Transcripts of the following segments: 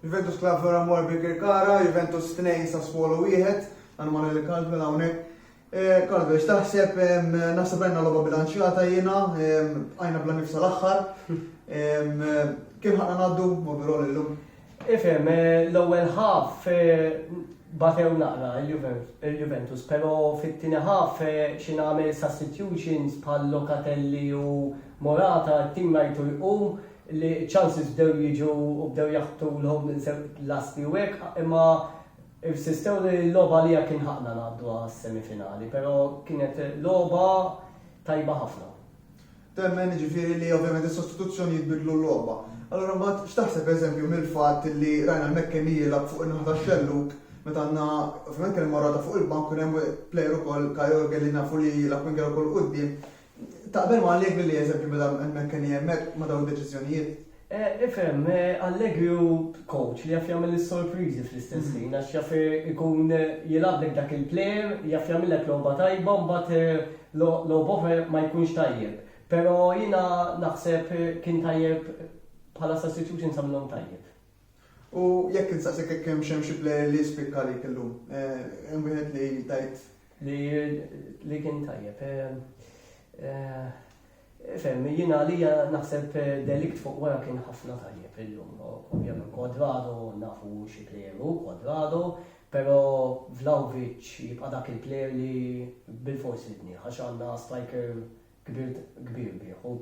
Juventus Club Vera Mor Birkirkara, Juventus 2 Sassuolo 1, għan ma li kalbel hawnhekk. Eh, kalbel, x'taħseb naħseb għajna logħba bilanċjata jiena, għajna bla nifsa l-aħħar. Kien ħana ngħaddu overall illum? Ifhem, eh, l-ewwel ħaf eh, batew naqra il-Juventus, pero fit-tini ħaf xi nagħmel substitutions bħal Locatelli u Morata, tim rajtu jqum li ċ-chances bdew jiġu u bdew jaħbtulhom minn sewqit lasti u hekk imma irsistew li l-logħba għalija kien ħaqqna ngħaddu għas-semifinali però kienet logħba tajba ħafna. Temmen jiġifieri li ovvjament is-sostituzzjonijiet biddlu l-logħba. Allura mbagħad x'taħseb pereżempju mill-fatt li rajna l-McKennie jilgħab fuq in-naħa tax-xellug meta għandna ovvjament kien hemm Morata fuq il-bank u kien hemm plejer ukoll Kyogo li nafu li jilgħab wing jew ukoll quddiem. Taqbel ma' Allegri li eżempju meta hemmhekk kien hemmhekk ma' dawn id-deċiżjonijiet? Ifhem, Allegri hu coach li jaf jagħmel is-sorpriżi fl-istess ħin għax jaf ikun jilgħablek dak il-plejer, jaf jagħmillek logħba tajba u mbagħad logħob oħra ma jkunx tajjeb. Però jiena naħseb kien tajjeb bħala substitutions għamilhom tajjeb. U jekk insaqsik jekk hemmx hemm xi plejer li jispikka għalik illum? Hemm wieħed li tgħid Li li kien tajjeb. Fem, jina li naħseb eh, delikt fuq wara kien ħafna tajjeb illum. Ovvjament Kodrado nafu xi pleru, Kodrado, pero Vlaovic jibqa' dak il-plejer li bil-fors li tnieħ, għax għandna striker kbirt kbir bih u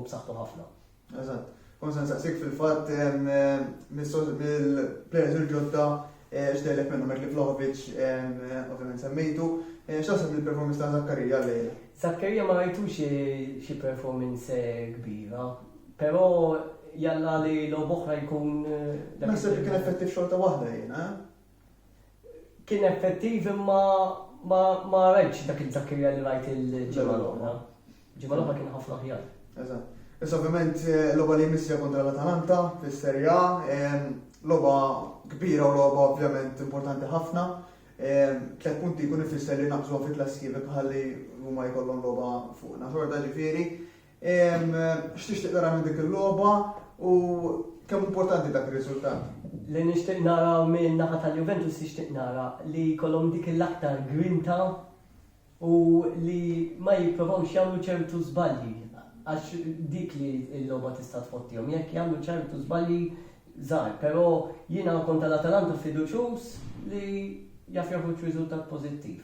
b'saħħtu ħafna. Eżatt. Kont se nsaqsik fil-fatt mill-players il-ġodda x'dejlek minnhom hekk li Vlahovic ovvjament semmejtu. X'taħseb mill-performance ta' Zakkarija għallejla? Zakkarija ma rajtux xi performance kbira, però jalla li logħob oħra jkun. Naħseb li kien effettiv xorta waħda jiena. Kien effettiv imma ma rajtx dak il-Zakkirja li rajt il-ġimgħa l-oħra. Ġimgħa l-oħra kien ħafna ħjar. Eżatt. Issa ovvjament eh, logħba li missija kontra l-Atalanta fis-Serja, ehm, logħba kbira u logħba ovvjament importanti ħafna. Ehm, tliet punti jkun ifisser li naqsu fi klassifika ħalli huma jkollhom logħba fuqna xorta ġifieri. X'tixtieq tara minn dik il-logħba u kemm importanti dak ir-riżultat? Li nixtieq nara minn naħa tal-Juventus nixtieq nara li jkollhom dik il-aktar grinta u li ma jipprovawx jagħmlu ċertu żbalji għax dik li l-logħba tista' tħottihom jekk jagħmlu ċertu żbalji żgħar. Però jiena kont tal-Atalanta fiduċjuż li jaf joħroġ riżultat pożittiv.